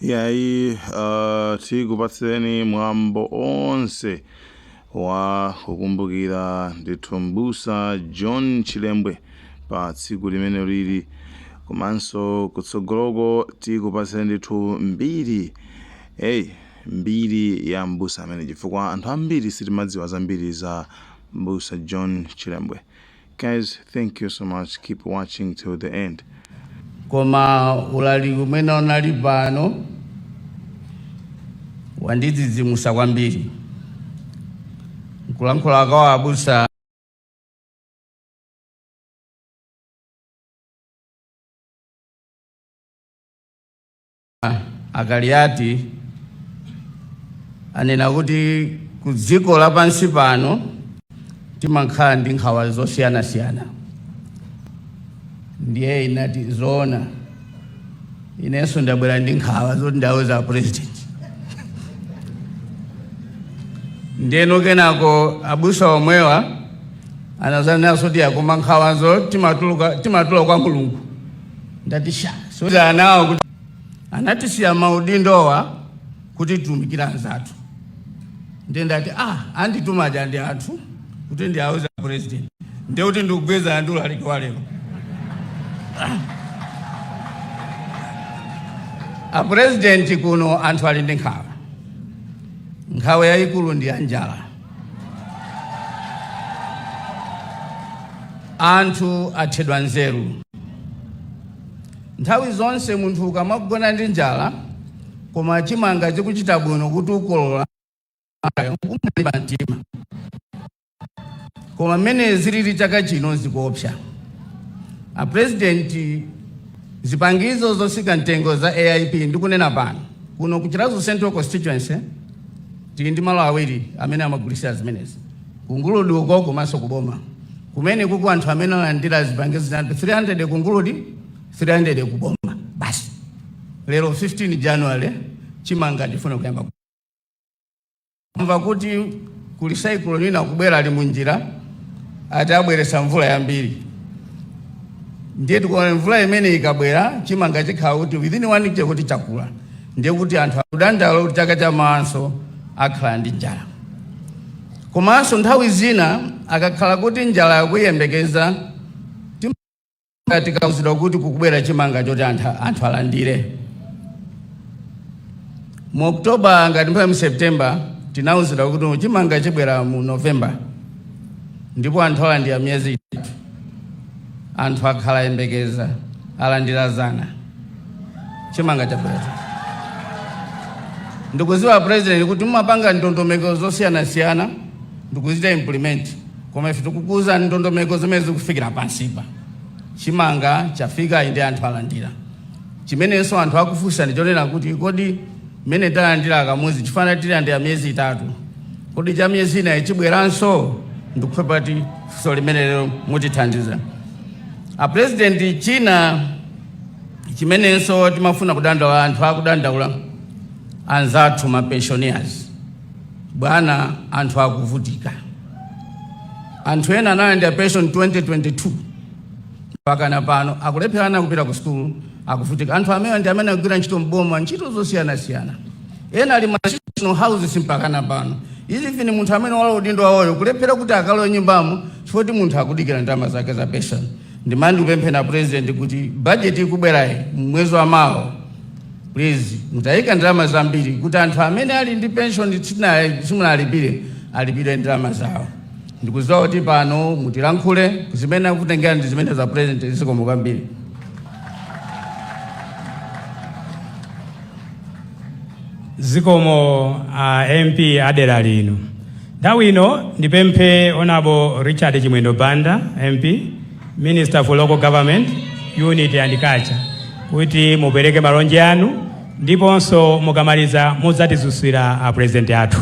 yayi uh, tikupatseni mwambo onse wa kukumbukira ndithu mbusa john chilembwe pa tsiku limeneli komanso kutsogoloko tikupatseni ndithu mbiri eyi mbiri ya mbusa ameneyu chifukwa anthu ambiri sitimadziwa zambiri za mbusa john chilembwe Guys thank you so much keep watching till the end. koma ulaliki umene unali pano wandidzidzimusa kwambiri nkulankhula kwa abusa a Kaliati anena kuti ku dziko lapansi pano timakhala ndi nkhawa zosiyanasiyana ndiye inati zoona inenso ndabwera ndi nkhawa zoti ndiwauza apresident ndeno kenako abusa omwewa anazanenanso kuti ya koma nkhawazo timatula kwa mulungu Ndagwirizanso nawo kuti anatisiya maudindowa kuti titumikire anzathu ndiye ndati ah andituma aja ndi anthu kuti ndiwauze apresident ndiye kuti ndikugwirizana ndi ulaliki wa lero a president kuno anthu ali ndi nkhawa nkhawa yayikulu ndi ya njala anthu athedwa nzeru nthawi zonse munthu ukamagona ndi njala koma chimanga chikuchita bwino kuti ukolola umalimba mtima koma mmene zilili chaka chino zikuopsa apurezidenti zipangizo zotsika mtengo za aip ndikunena pano kuno ku chiradzulu central constituency Tili ndi malo awiri amene amagulitsira zimenezi, ku Nguludi uko komanso ku boma kumeneku anthu amene alandira zipangizo 300 ku Nguludi, 300 ku boma basi. Lero 15 January chimanga chifuna kuyamba ku- kumva kuti kuli cyclone ina kubwera ali munjira ati abweretsa mvula yambiri ndiye tikuona mvula imene ikabwera chimanga chikhala kuti within one week kuti chakula ndiye kuti anthu akudandaula kuti chaka chamawanso akhala ndi njala komanso nthawi zina akakhala kuti njala yakuyembekeza tikauzidwa kuti kukubwera chimanga choti anthu alandire mu oktoba ngati phala mu septemba tinauzidwa kuti chimanga chibwera mu novemba ndipo anthu alandira miyezi itatu anthu akhala yembekeza alandira dzana chimanga chabweracho ndikudziwa president kuti mumapanga ndondomeko zosiyanasiyana ndikuzita implement koma ife tikukuza ndondomeko zimene zikufikira pansipa chimanga chafika inde anthu alandira chimenenso anthu akufunsa ndichonena kuti kodi Mmene talandira kamodzi chifana tilandira miyezi itatu, kodi cha miyezi inayi chibweranso? Ndikupempha kuti funso limene lero mutithandize a president. China chimenenso timafuna kudandaula, anthu akudandaula anzathu ma pensioners, bwana, anthu akuvutika. Anthu ena analandira pension 2022 mpaka na pano akulephera ana kupita ku sukulu. akuvutika. Anthu amenewa ndi amene agwira ntchito m'boma ntchito zosiyanasiyana, ena ali ma national houses mpakana pano izi even munthu amene walowa udindo wawoyo kulephera kuti akalowe nyumbamo chifukwa kuti munthu akudikira ndalama zake za pension. Ndimati ndikupempheni a president kuti budget ikubwerayi mwezi wa mawa please mutayika ndalama zambiri kuti anthu amene ali ndi pension simunalipire alipidwe ndalama zawo. Ndikudziwa kuti pano mutilankhule zimene akutengera ndi zimenezo a president zikomo kwambiri. Zikomo a MP a dera lino. Nthawi ino ndipemphe Honorable Richard Chimwendo Banda MP Minister for Local Government Unity and Culture kuti mupereke malonje anu ndiponso mukamaliza mudzatidzutsira a president athu.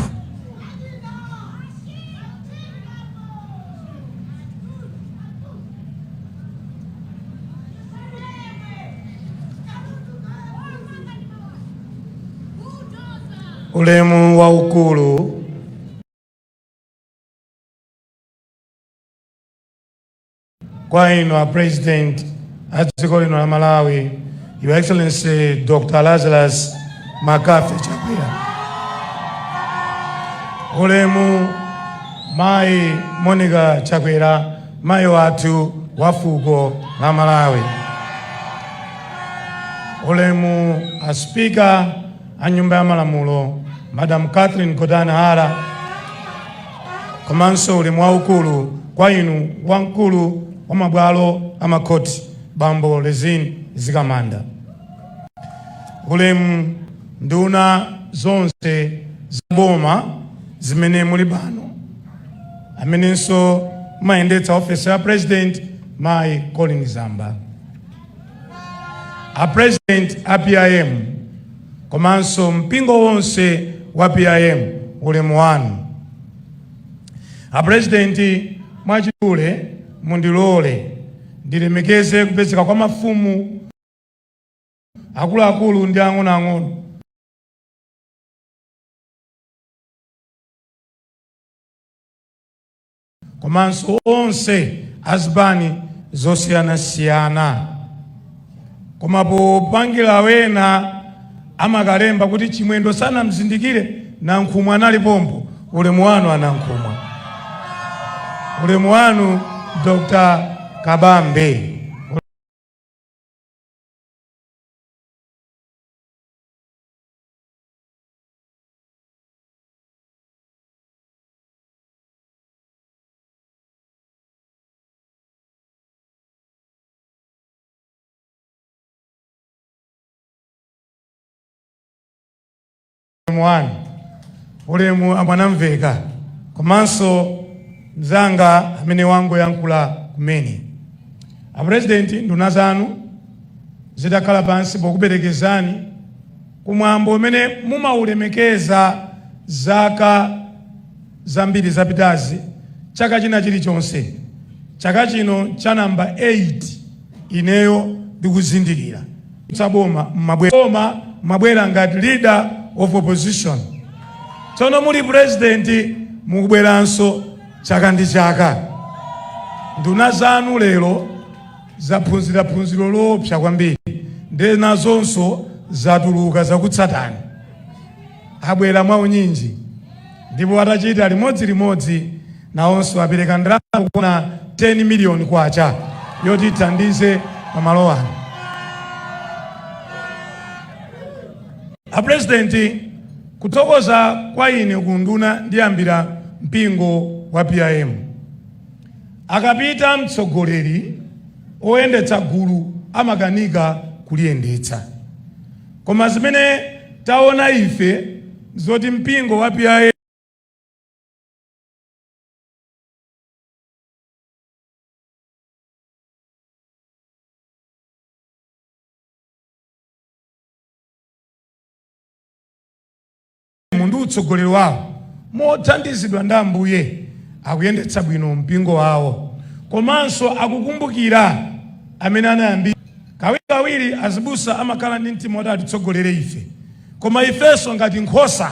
ulemu waukulu Kwa inu a President a dziko lino la Malawi, Your Excellency Dr. Lazarus McCarthy Chakwera, ulemu mayi Monica Chakwera, mayi wathu wa fuko la Malawi, ulemu a Speaker a nyumba ya malamulo Madam Catherine Gotani Hara komanso ulemu waukulu kwa inu wamkulu wa mabwalo a makhoti Bambo Rizine Mzikamanda, ulemu nduna zonse za boma zimene muli pano, amenenso mumayendetsa ofesi ya president Mayi Colleen Zamba. a president a PIM komanso mpingo wonse wa PIM ulemu wanu. A president mwachidule mundilole ndilemekeze kupezeka kwa mafumu akuluakulu ndi ang'onoang'ono komanso onse azipani zosiyanasiyana koma popangira ena amakalemba kuti chimwendo sanamzindikire nankhumwa anali pompo ulemu wanu anankhumwa ulemu wanu dr kabambe wanu ulemu amwanamveka komanso mzanga amene wangoyankhula kumene apurezidenti nduna zanu zitakhala pansi pokuperekezani kumwambo umene mumaulemekeza zaka zambiri zapitazi, chaka china chilichonse, chaka chino cha number 8 ineyo ndikuzindikira kutsutsa boma mmabwera ngati leader of opposition tsono muli president mukubweranso chaka ndi chaka nduna zanu lero zaphunzira phunziro loopsa kwambiri ndiye nazonso zatuluka zakutsatani abwera mwaunyinji Ndipo atachita limodzi limodzi nawonso apereka ndalama zokwana 10 miliyoni kwacha yoti ithandize pa malo ano. A President, kuthokoza kwa ine ku nduna ndiyambira mpingo wa PIM. Akapita mtsogoleri oyendetsa gulu amakanika kuliyendetsa. Koma zimene taona ife nzoti mpingo wa PIM ndi utsogoleri wawo, mothandizidwa ndi Ambuye, akuyendetsa bwino mpingo wawo komanso akukumbukira amene anayambitsa. Kawirikawiri azibusa amakhala ndi mtima woti atitsogolere ife, koma ifenso ngati nkhosa,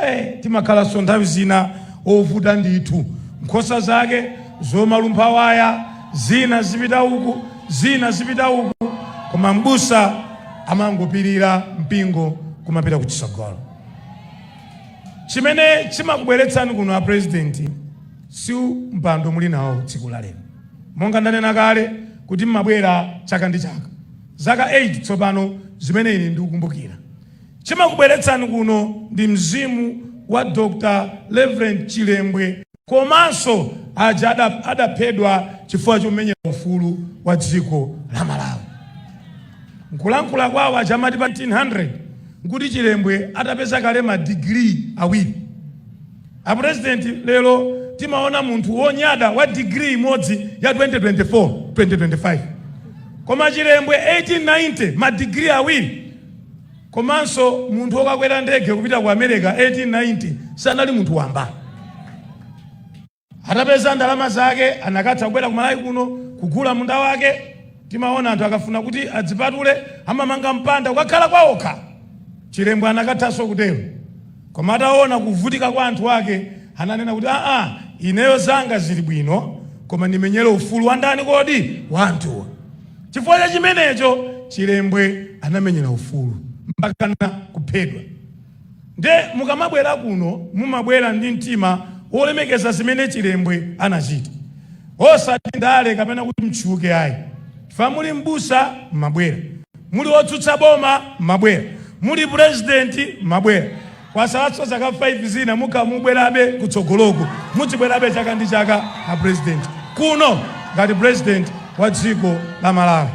ee, timakhalanso nthawi zina ovuta ndithu. Nkhosa zake zomalumpha waya, zina zipita uku, zina zipita uku, koma m'busa. amangopirira mpingo kumapita ku chitsogolo chimene chimakubweretsani kuno a president si mpando muli nawo tsiku la lero monga ndanena kale kuti mmabwera chaka ndi chaka zaka 8 tsopano zimene ine ndikukumbukira chimakubweretsani kuno ndi mzimu wa dr reverend chilembwe komanso aja adaphedwa chifukwa chomenyera ufulu wa dziko la Malawi. Nkulankhula kwawo aja amati pa 1900 nkuti Chilembwe atapeza kale madigiri awiri. Apurezidenti, lero timaona munthu wonyada wa digiri imodzi ya 2024 2025 koma Chilembwe 1890 madigiri awiri Komanso munthu wokakwera ndege kupita ku America 1890 sanali munthu wamba. Atapeza ndalama zake anakatha kubwera ku Malawi kuno kugula munda wake. Timaona anthu akafuna kuti adzipatule amamanga mpanda kukakhala kwaokha. Chilembwe anakathanso kutero. Koma ataona kuvutika kwa anthu ake, ananena kuti, Aa, ineyo zanga zili bwino, koma ndimenyere ufulu wa ndani kodi? Wa anthuwa. Chifukwa cha chimenecho, Chilembwe anamenyera ufulu mpakana kuphedwa. Nde mukamabwera kuno, mumabwera ndi mtima wolemekeza zimene Chilembwe anachita, osati ndale kapena kuti mtchuke ayi. Chifukwa muli m'busa, mumabwera. Muli otsutsa boma mmabwera, muli president mmabwera, kwasalanso zaka 5 zina mukamabwerabe kutsogoloku mudzibwerabe chaka ndi chaka a president kuno ngati president wa dziko la Malawi.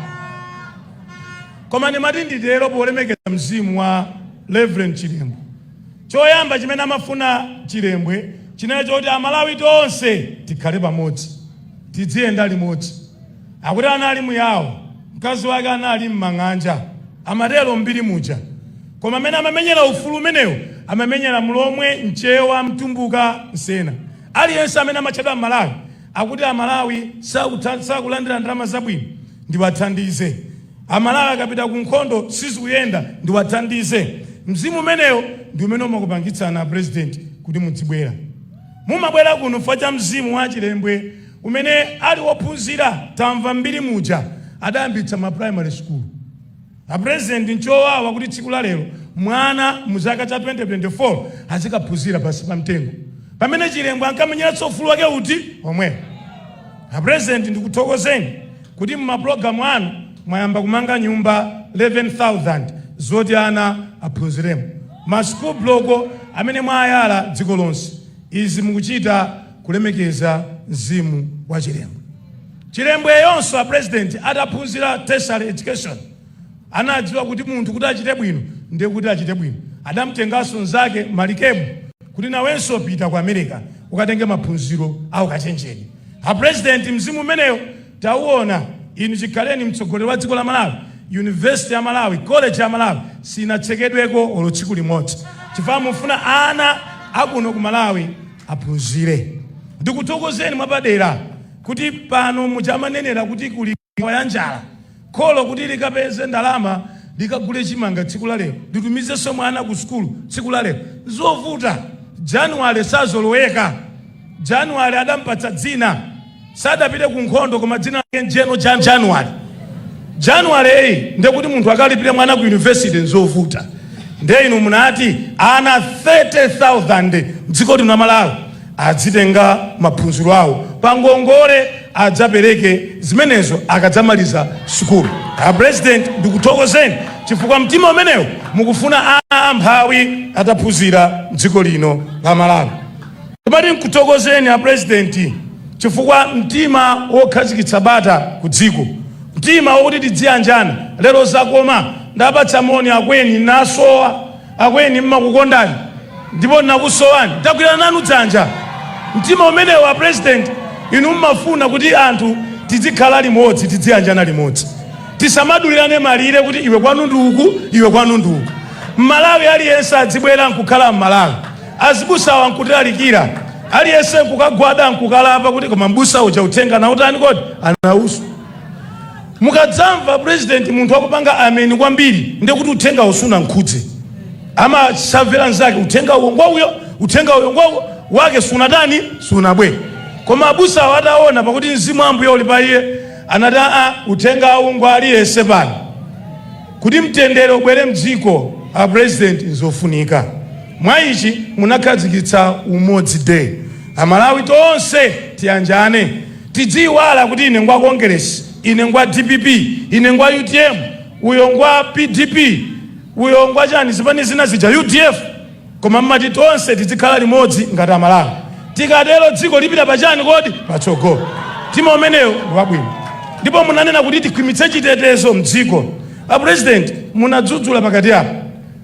Koma ndimati nditero polemekeza mzimu wa Reverend Chilembwe. Choyamba chimene amafuna Chilembwe chinali choti a Malawi tonse tikhale pamodzi, tidziyenda limodzi. Akuti anali Muyawo, mkazi wake anali m'mang'anja, amatero m'mbiri muja. Koma amene amamenyera ufulu umenewo amamenyera Mlomwe, Mchewa, Mtumbuka, Msena. Aliyense amene amatchedwa M'malawi akuti Amalawi sakulandira ndalama zabwino, ndiwathandize. Amalawi akapita ku nkhondo sizikuyenda, ndiwathandize. Mzimu umenewo ndi umene umakupangitsani a President kuti mudzibwera. Mumabwera kuno chifukwa cha mzimu wa a Chilembwe. kumene ali ophunzira tamva mbiri muja adayambitsa ma primary school a president nchowawa kuti tsiku la lero mwana mu chaka cha 2024 azikaphunzira pansi pa mtengo pamene chilembwe ankamenyeratso ufulu wake uti omwe a president ndikuthokozeni kuti mumapulogalamu anu mwayamba kumanga nyumba 11000 zoti ana aphunziremo ma school block amene mwayala dziko lonse izi mukuchita kulemekeza mzimu wa chilembwe. Chilembweyonso a president ataphunzira tertiary education anadziwa kuti munthu kuti achite bwino ndiye kuti achite bwino. Adamtenganso mnzake Malikebu kuti nawenso upite ku America ukatenge maphunziro a ukachenjede. A president mzimu umeneyo tauona inu chikhaleni mtsogoleri wa dziko la Malawi. University ya Malawi, college ya Malawi sinatsekedweko olo tsiku limodzi chifukwa mufuna ana akuno ku Malawi aphunzire. Ndikuthokozeni mwapadera kuti pano muja amanenera kuti kuli nkhawa ya njala, kholo kuti likapeze ndalama likagule chimanga tsiku la lero, litumizenso mwana ku sukulu tsiku la lero. N'zovuta. January sazoloweka. January adampatsa dzina. sadapite ku nkhondo koma dzina lake ndi general january january eya ndekuti munthu akalipire mwana ku university nzovuta nde inu munati ana 30000 mdziko lino la malawi adzitenga maphunziro awo pa ngongole adzapereke zimenezo akadzamaliza sukulu a president ndikuthokozeni chifukwa mtima umenewo mukufuna ana amphawi ataphunzira mdziko lino la malawi Timati nkuthokozeni a President chifukwa mtima wokhazikitsa bata ku dziko, mtima wokuti tidziyanjana lero zakoma. Ndapatsana moni a Kweni, nnasowa a Kweni nimakukondani ndipo nnakusowani, tagwirana nanu dzanja. Mtima umenewu a President inu mmafuna kuti anthu tidzikhala limodzi, tidziyanjana limodzi, tisamadulirane malire kuti iwe kwanu ndi uku, iwe kwanu ndi uku. Mmalawi aliyense adzibwera nkukhala Mmalawi. Azibusawa ankutilalikira, aliyense nkukagwada nkukalapa kuti koma mbusa uja uthenga wautani kodi? Anauswa. Mukadzamva president munthu akupanga ameni kwambiri ndiye kuti uthenga uwu sunamkhudze. Amasavera nzake uthenga uwu ngwa uyo, uthenga uwu ngwa uyo wake sunatani sunabwe. Koma abusawa adaona pakuti mzimu wa Ambuye uli pa iye anati aa uthenga uwu ngwa aliyense pano. Kuti mtendere ubwere mdziko a president nzofunika mwa ichi munakhazikitsa umodzi day amalawi tonse tiyanjane tidziyiwala kuti ine ngwa kongeresi ine ngwa dpp ine ngwa utm uyo ngwa pdp uyo ngwa chani zipani zina zija udf Koma mmati tonse tidzikhala limodzi ngati amalawi tikatero dziko lipita pachani kodi? Patsogolo. Mtima umenewo ndi wabwino. Ndipo munanena kuti tikhwimitse chitetezo mdziko. A president munadzudzula pakati apa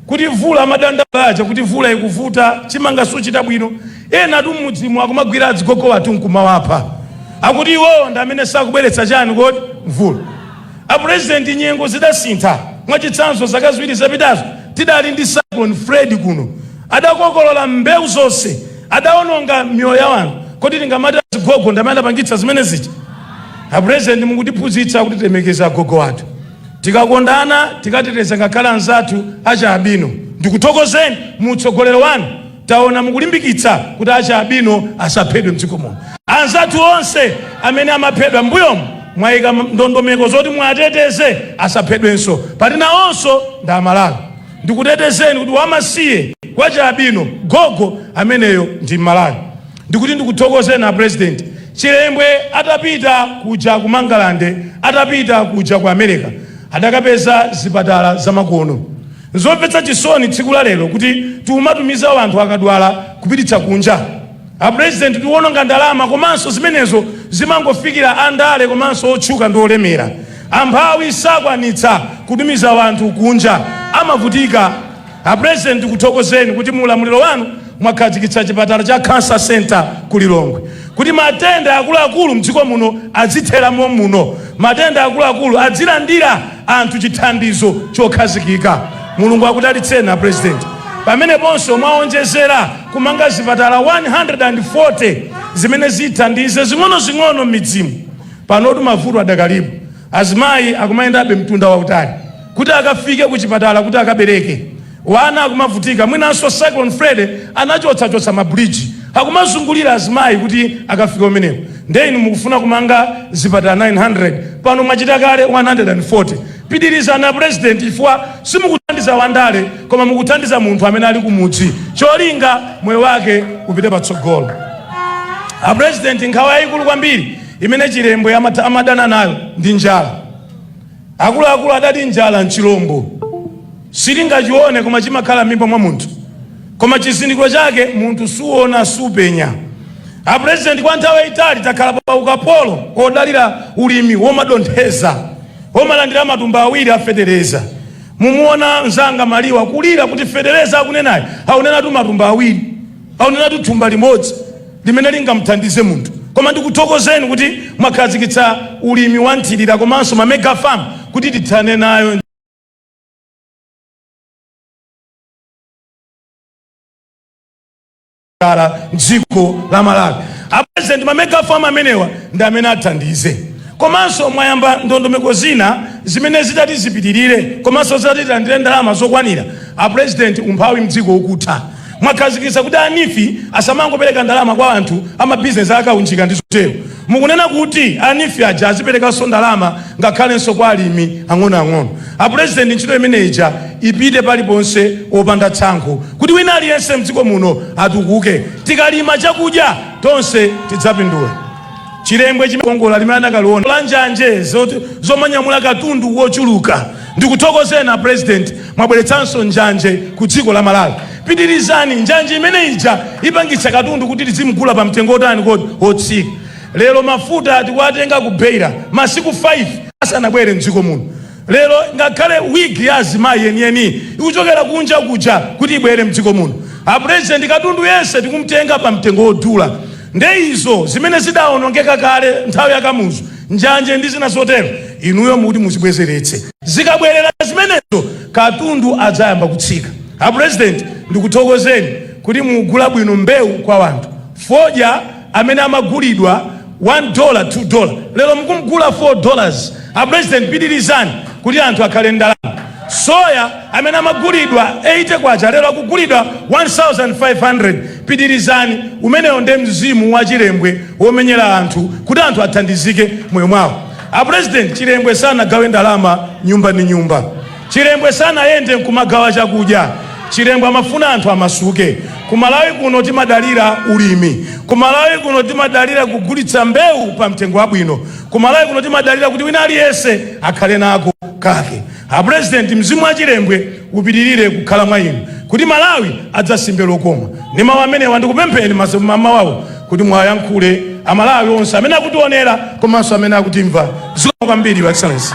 kuti mvula amadandaula aja kuti mvula ikuvuta chimanga suchita bwino enatu mmudzimu akumagwira adzigogo athu nkumawapha akuti iwo ndi amene sakubweretsa chani kodi mvula. A President nyengo zidasintha, mwachitsanzo zaka ziwiri zapitazo tidali ndi Cyclone Freddy kuno, adakokolola mbewu zonse, adaononga miyoyo ya anthu, kodi tingamati azigogo ndamene adapangitsa zimene zija? A President mukutiphunzitsa kuti tilemekeze agogo athu, tikakondana, tikateteza ngakhale anzathu achi albino. Ndikuthokozeni mu utsogoleri wanu. Taona mukulimbikitsa kuti achi albino asaphedwe mdziko muno. Anzathu onse amene amaphedwa mmbuyomu mwaika ndondomeko zoti muwateteze asaphedwenso poti nawonso ndi aMalawi. Ndikutetezeni kuti wamasiye, wachi albino, gogo ameneyo ndi mMalawi. Ndikuti ndikuthokozeni a President. Chilembwe atapita kuja ku Mangalande, atapita kuja ku America adakapeza zipatala zamakono. Nzomvetsa chisoni tsiku la lero kuti tiumatumiza wanthu akadwala kupititsa kunja. A president tiuononga ndalama komanso zimenezo zimangofikira a ndale komanso otchuka ndi olemera. Amphawi sakwanitsa kutumiza wanthu kunja amavutika. A president tikuthokozeni kuti mu ulamuliro wanu Mwakhazikitsa chipatala cha Cancer Centre ku Lilongwe kuti matenda akuluakulu mdziko muno adzithera mommuno. Matenda akuluakulu adzilandira anthu chithandizo chokhazikika. Mulungu akudalitseni a President. Pameneponso mwaonjezera kumanga zipatala 140 zimene zithandize zing'onozing'ono mmidzimu. Panotu mavuto adakalipo. Azimayi akumayendabe mtunda wautali kuti akafike kuchipatala kuti akabereke. Wana akumavutika mwinanso Cyclone Freddy anachotsa chotsa ma bridge akumazungulira azimayi kuti akafike kumeneko nde inu mukufuna kumanga zipatala 900 pano mwachita kale 140 pitilizani a president chifukwa simukuthandiza wandale koma mukuthandiza munthu amene ali kumudzi cholinga moyo wake upite patsogolo a president nkhawa yayikulu kwambiri imene chilembwe amadana nayo ndi njala Akuluakulu adati njala n'chilombo. Sitingachione koma chimakhala m'mimba mwa munthu. Koma chizindikiro chake munthu suona, supenya. Apulezidenti, kwa nthawi yaitali takhala pa ukapolo wodalira ulimi womadontheza, womalandira matumba awiri a fetereza. Mumuona mnzanga Maliwa kulira kuti fetereza akunenayo akunenatu matumba awiri. Akunenatu thumba limodzi limene lingamuthandize munthu. Koma ndikuthokozeni kuti mwakhazikitsa ulimi wa nthilira komanso ma mega farm kuti tithane nayo njala m'dziko la Malawi. A President ma mega farm amenewa ndi amene athandize. Komanso mwayamba ndondomeko zina zimene zitati zipitirire komanso zitati tilandire ndalama zokwanira. A President umphawi m'dziko ukutha. Mwakhazikitsa kuti a Nifi asamangopereka ndalama kwa anthu a mabizinesi akaunjika ndi zotero. Mukunena kuti a Nifi aja aziperekanso ndalama ngakhalenso kwa alimi ang'onoang'ono. A Pulezidenti ntchito imene ija ipite paliponse opanda tsankho kuti wina aliyense mdziko muno atukuke. Tikalima chakudya tonse tidzapindula. Chilembwe chimkongola limene anakaliona la njanje zomanyamula katundu wochuluka ndikuthokozeni a president mwabweretsanso njanje ku dziko la Malawi pitirizani njanje imene ija ipangitsa katundu kuti tizimgula pa mtengo otani kodi wotsika lero mafuta tikuwatenga ku Beira masiku 5 asanabwere mdziko muno Lero ngakhale wig ya azimayi yeniyeni ikuchokera kunja kuja kuti ibwere mdziko muno. A president katundu yense tikumtenga pa mtengo wodula. Nde izo zimene zidaonongeka kale nthawi ya Kamuzu, njanje ndi zina zotero, inuyo muti muzibwezeretse. Zikabwerera zimenezo katundu adzayamba kutsika. A president ndikuthokozeni kuti mukugula bwino mbewu kwa wanthu. Fodya amene amagulidwa 1 dola 2 dola lero mukumgula 4 dollars a president pitilizani kuti anthu akhale ndalama soya amene amagulidwa 80 kwacha lero akugulidwa 1500 pitilizani umenewo nde mzimu wa chilembwe womenyera anthu kuti anthu athandizike moyo mwawo a president chilembwe sanagawe ndalama nyumba ndi nyumba Chilembwe sanayende nkumagawa chakudya. Chilembwe amafuna anthu amasuke. Ku Malawi kuno timadalira ulimi. Ku Malawi kuno timadalira kugulitsa mbewu pa mtengo wabwino. Ku Malawi kuno timadalira kuti wina aliyense akhale nako kake. A President, mzimu wa Chilembwe upitilire kukhala mwa inu kuti Malawi adzasimbe lokoma. Ndi mawu amenewa ndikupempheni mmawa uno. kuti mwayankhule amalawi onse amene akutionera komanso amene akutimva zikomo kwambiri your excellency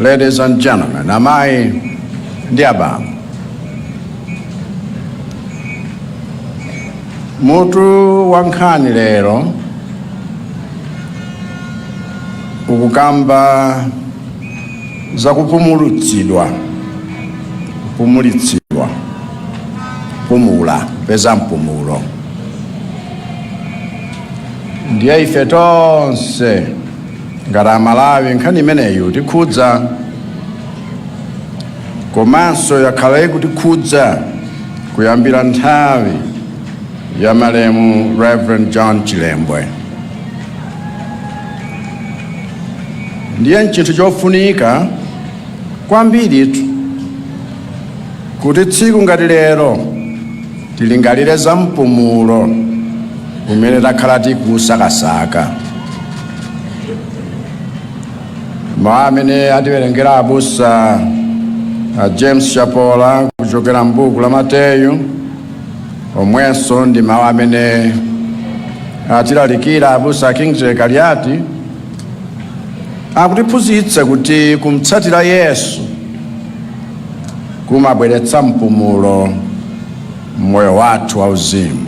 Ladies and gentlemen, amayi ndi abambo, mutu wa nkhani lero ukukamba za kupumulitsidwa kupumulitsidwa pumula peza mpumulo ndiye ife tonse ngati amalawi nkhani imeneyi itikhudza komanso yakhala ikutikhudza kuyambira nthawi ya malemu reverend john chilembwe ndiye nchinthu chofunika kwambiritu kuti tsiku ngati lero Tilingalire za mpumulo umene takhala tikusakasaka. Mawu amene atiwerengera abusa a James Chapola kuchokera m'buku la Mateyu omwenso ndi mawu amene atilalikira abusa a Kingsley Kaliati akutiphunzitsa kuti kumtsatira Yesu kumabweretsa mpumulo mmoyo wathu wauzimu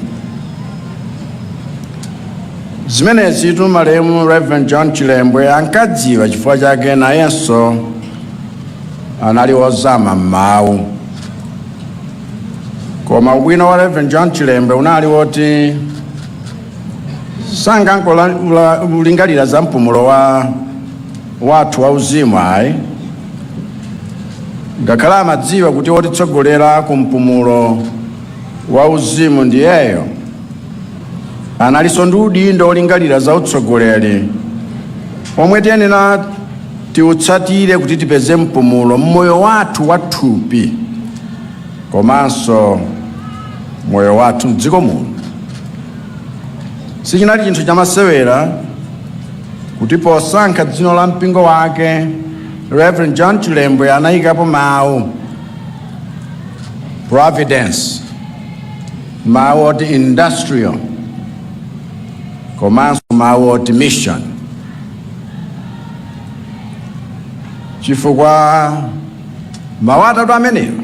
zimenezitu malemu reverend john chilembwe ankadziwa chifukwa chake nayenso anali wozama m'mawu koma ubwino wa reverend john chilembwe unali woti sankangolingalira za mpumulo wathu wauzimu ayi Ngakhale amadziwa kuti wotitsogolera ku mpumulo wauzimu ndiyeyo, analinso ndi udindo wolingalira za utsogoleri omwe tiyenera tiutsatire kuti tipeze mpumulo mmoyo wathu wathupi komanso moyo wathu mdziko muno. Sichinali chinthu chamasewera kuti posankha dzina la mpingo wake reverend john chilembwe anayikapo mawu providence mawu oti industrial komanso mawu oti mission chifukwa mawu atatu amenewa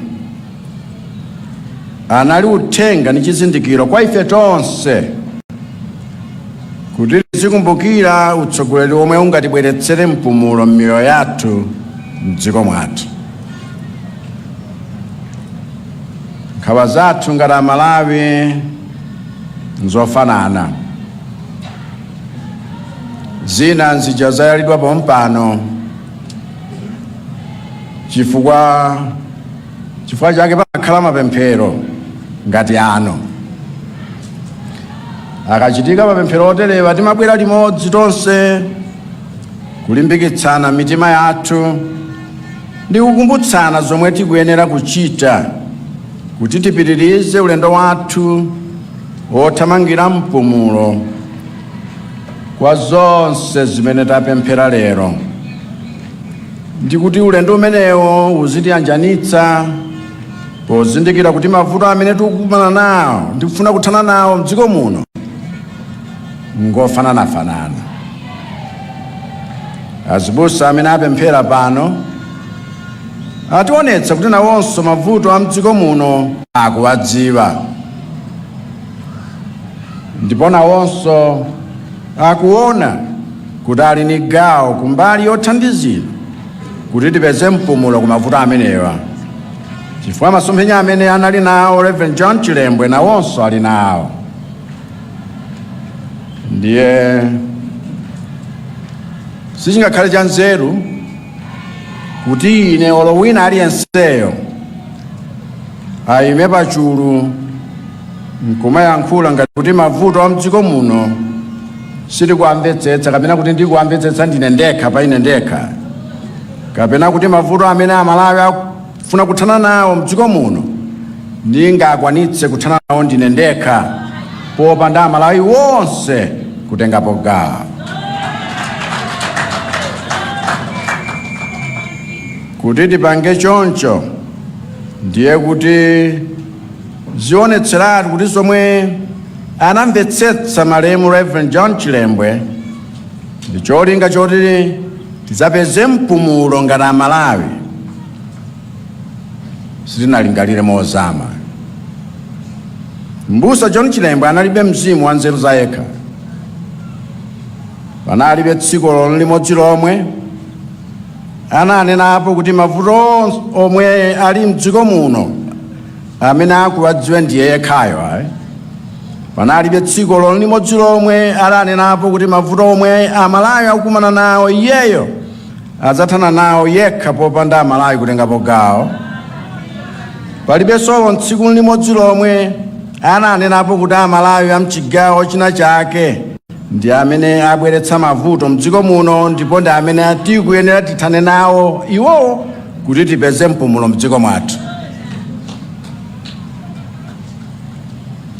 anali uthenga ndi chizindikiro kwa ife tonse kuti tizikumbukira utsogoleri omwe ungatibweretsere mpumulo m'miyoyo yathu m'dziko mwathu nkhawa zathu ngati amalawi nzofanana zina nzija zayalidwa pompano chifukwa chifukwa chake pamakhala mapemphero ngati ano akachitika mapemphero oterewa timabwera limodzi tonse kulimbikitsana mitima yathu ndi kukumbutsana zomwe tikuyenera kuchita kuti tipitirize ulendo wathu wothamangira mpumulo kwa zonse zimene tapemphera lero ndi kuti ulendo umenewo uzitiyanjanitsa pozindikira kuti mavuto amene tikukumana nawo ndi kufuna kuthana nawo mdziko muno ngofananafanana azibusa amene apemphera pano ationetsa kuti nawonso mavuto a mdziko muno akuwadziwa ndipo nawonso akuona kuti ali ni gawo kumbali yothandizira kuti tipeze mpumulo ku mavuto amenewa chifukwa masomphenya amene anali nawo reverend john chilembwe nawonso ali nawo ndiye sichingakhale cha nzeru kuti ine olo wina aliyenseyo ayime pachulu nkumayankhula ngati kuti mavuto a mdziko muno sitikuwamvetsetsa kapena kuti ndikuwamvetsetsa ndine ndekha pa ine ndekha kapena kuti mavuto amene amalawi akufuna kuthana nawo mdziko muno ndingakwanitse kuthana nawo ndine ndekha popanda amalawi wonse kutengapo gawo kuti tipange choncho ndiye kuti zionetseratu kuti zomwe anamvetsetsa malemu reverend john chilembwe ndi cholinga choti tidzapeze mpumulo ngati amalawi sitinalingalire mozama mbusa john chilembwe analibe mzimu wa nzeru za yekha panalibe tsiku olo limodzi lomwe ananenapo kuti mavuto omwe ali mdziko muno amene akuwadziwa ndiye yekhayo ayi panalibe tsiku olo limodzi lomwe ananenapo kuti mavuto omwe amalawi akukumana nawo iyeyo adzathana nawo yekha popanda amalawi kutengapo gawo palibenso olo tsiku limodzi lomwe ananenapo kuti amalawi amchigawo china chake ndi amene abweretsa mavuto mdziko muno ndipo ndi amene tikuyenera tithane nawo iwowo kuti tipeze mpumulo mdziko mwathu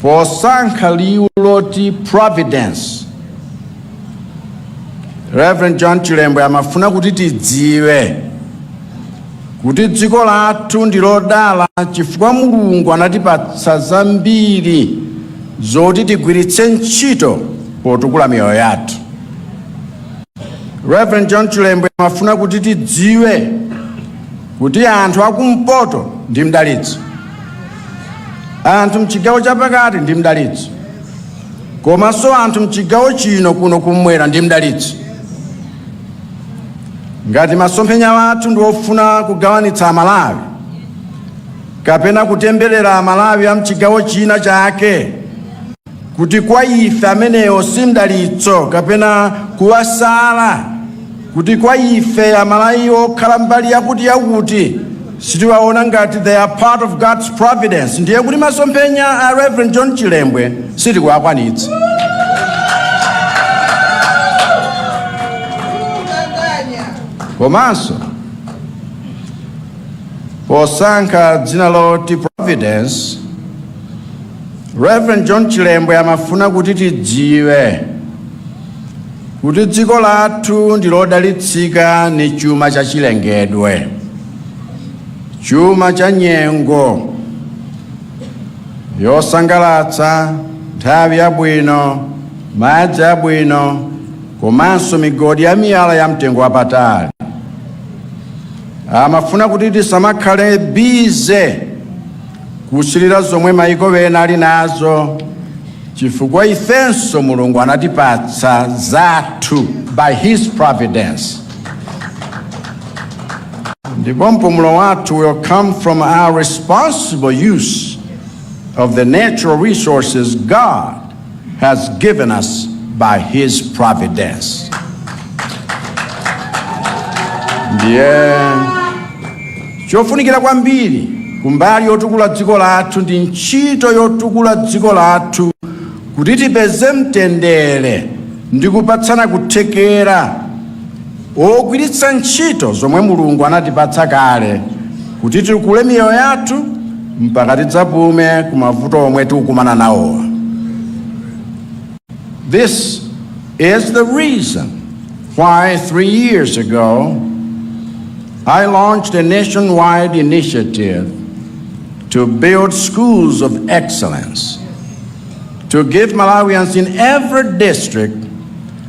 posankha liwu loti providence reverend john chilembwe amafuna kuti tidziwe kuti dziko lathu ndi lodala chifukwa mulungu anatipatsa zambiri zoti tigwiritse ntchito potukula miyoyo yathu Reverend John Chilembwe amafuna kuti tidziwe kuti anthu akumpoto ndi mdalitso, anthu mchigawo chapakati ndi mdalitso, komanso anthu mchigawo chino kuno kumwera ndi mdalitso. Ngati masomphenya wathu ndi ofuna kugawanitsa Amalawi kapena kutemberera Amalawi a mchigawo china chake kuti kwa ife amenewo si mdalitso kapena kuwasala, kuti kwa ife amalawi okhala mbali yakuti yakuti sitiwaona ngati they are part of God's providence, ndiye kuti masomphenya a Reverend John Chilembwe sitikuwakwanitsa. komanso posankha dzina loti providence Reverend John Chilembwe amafuna kuti tidziwe kuti dziko lathu ndi lodalitsika ni chuma cha chilengedwe, chuma cha nyengo yosangalatsa, nthawi yabwino, madzi abwino komanso migodi ya miyala ya mtengo wapatali. Amafuna kuti tisamakhale bize kusilira zomwe maiko ena ali nazo chifukwa ifenso mulungu anatipatsa zathu by his providence ndipo mpumulo wathu will come from our responsible use of the natural resources god has given us by his providence. Ndiye chofunikira kwambiri kumbali yotukula dziko lathu ndi ntchito yotukula dziko lathu kuti tipeze mtendere ndi kupatsana kuthekera Pogwiritsa ntchito zomwe Mulungu anatipatsa kale kuti tikule miyoyo yathu mpaka tidzapume ku mavuto omwe tikukumana nawowa. This is the reason why three years ago I launched a nationwide initiative to build schools of excellence to give Malawians in every district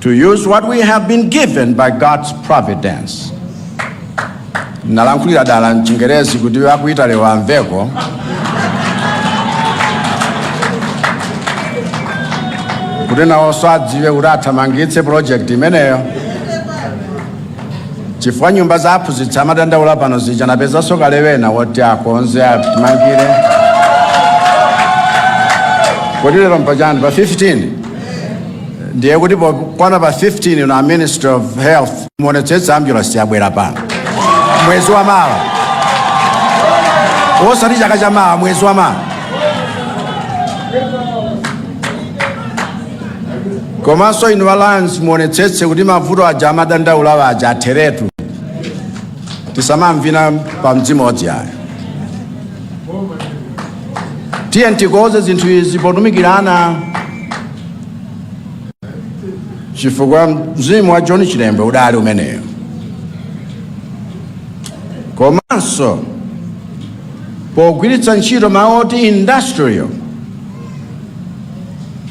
to use what we have been given by God's providence. Nalankhulira dala mchingerezi kuti a ku Italy amveko. Kuti nawonso adziwe kuti athamangitse project imeneyo. chifukwa nyumba za aphunzitsi amadandaula pano zija napezanso kale wina woti akonze atimangire kodi lero m'pa chani pa 15 ndiye kuti pokwana pa 15 ino a minister of health muonetsetse ambulance yabwera pano mwezi wa mawa osati chaka cha mawa mwezi wa mawa komanso inu alliance muonetsetse kuti mavuto aja amadandaula aja atheretu tisamavina pamodzimodzi ayo tiyeni tikonze zinthu izi potumikirana chifukwa mzimu wa john chilembwe udali umeneyo komanso pogwiritsa ntchito mawu oti industrial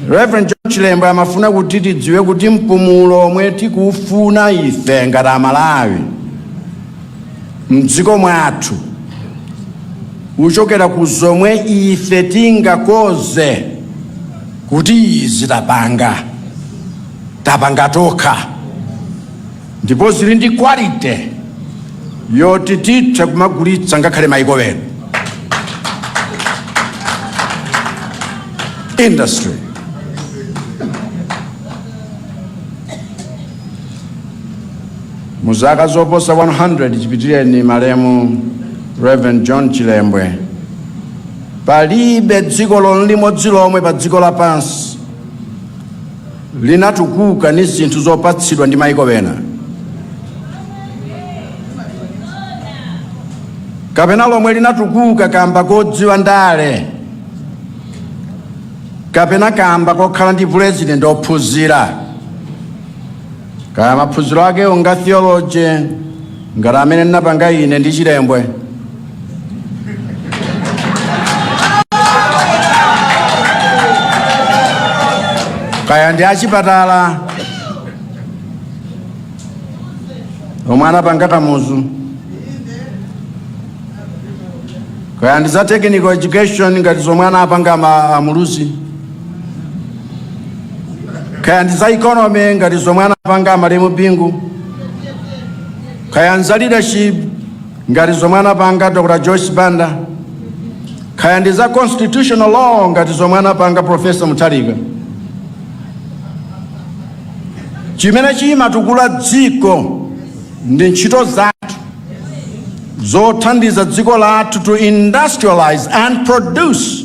Reverend John Chilembwe amafuna kuti tidziwe kuti mpumulo omwe tikufuna ife ngati Amalawi mdziko mwathu uchokera ku zomwe ife tingaloze kuti izi tapanga tapanga tokha ndipo zili ndi quality yoti titha kumagulitsa ngakhale maiko ena industry mu zaka zoposa 100 chipitireni malemu reverend john chilembwe palibe dziko olo limodzi lomwe pa dziko lapansi linatukuka ndi zinthu zopatsidwa ndi maiko ena kapena lomwe linatukuka kamba kodziwa ndale kapena kamba kokhala ndi pulezidenti ophunzira kaya maphunziro ake onga theology ngati amene ndinapanga ine ndi chilembwe kaya ndi achipatala omwe anapanga kamuzu kaya ndi za technical education ngati zomwe anapanga ma- amuluzi kaya ndi za economy ngati zomwe anapanga amalemu bingu kaya ndi za leadership ngati zomwe anapanga dr joyce banda kaya ndi za constitutional law ngati zomwe anapanga profesa mutharika chimene chimatukula dziko ndi ntchito zathu zothandiza dziko lathu to industrialize and produce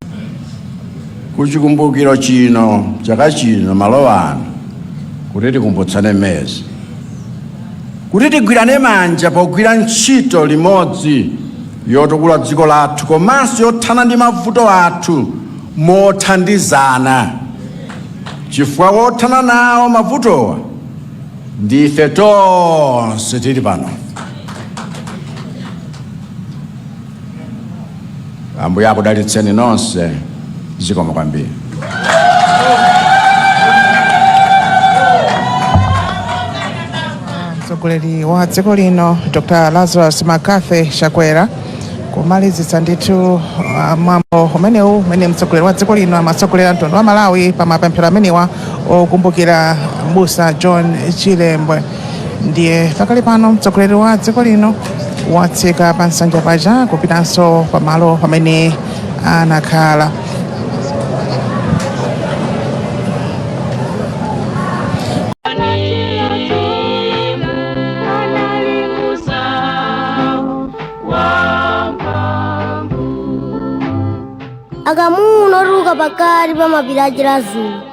kuchikumbukiro chino chaka chino malo ano kuti tikumbutsane mezi kuti tigwirane manja pogwira ntchito limodzi yotukula dziko lathu komanso yothana ndi mavuto athu mothandizana chifukwa wothana nawo mavutowa ndife tonse tili pano ambuye akudalitseni nonse zikomo kwambiri mtsogoleri wa dziko lino dr lazarus mccarthy chakwera kumalizitsa ndithu uh, mwambo umenewu umene mtsogoleri wa dziko lino amatsogolera mtundu wa malawi pa mapemphero amenewa okumbukira mbusa john chilembwe ndiye pakali pano mtsogoleri wa dziko lino watsika pa nsanja paja kupitanso pamalo pamene anakhala akamuna otuluka pakati pa mapiri a chiradzulo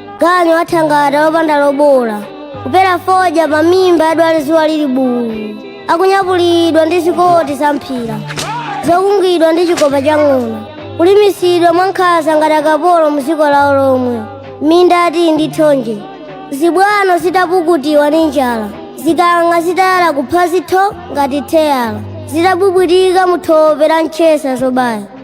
ganyu wathangata wopanda lobola kupera fodya pa mimba yadwale dzuwa lili buu akunyapulidwa ndi zikoti za mphira zokungidwa ndi chikopa cha ng'ona kulimisidwa mwankhanza ngati akapolo mu dziko lawo lomwe minda ya tii ndi thonje zibwano zitapukutiwa ndi njala zikang'a zitayala kuphazi tho ngati theyala zitabwibwitika mu thope la mtchesa zobaya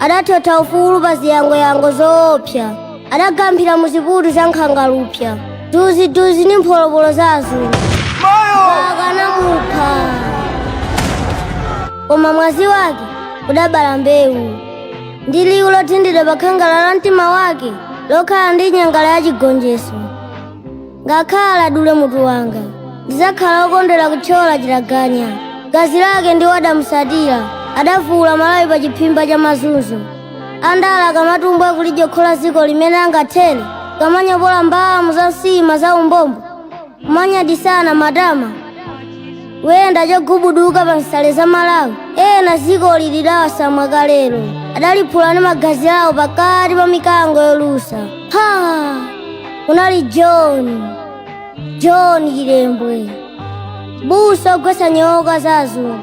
adathotha ufulu pa ziyangoyango zoopsa adagamphira mu ziputu za nkhangalupsa duziduzi ndi mpholopolo za azungu akanamupha koma mwazi wake udabala mbewu ndi liwu lothindidwa pa khangala la mtima wake lokhala ndi nyangala ya chigonjetso ngakhale adule mutu wanga ndidzakhala wokondwera kuthyola chitaganya gazi lake ndiwo adamusatira adavula malawi pa chiphimba cha mazunzo a ndala akamatumbwa kulidyokhola dziko limene angathere kamanyopola mbamu za nsima za umbombo kumanyadisana matama kuyenda chogubuduka pa nsale za malawi ena dziko lili dawasamwa kalero adaliphula ndi magazi awo pakati pa mikango yolusa ha kunali john john chilembwe busa ogwetsa nyoka za azungu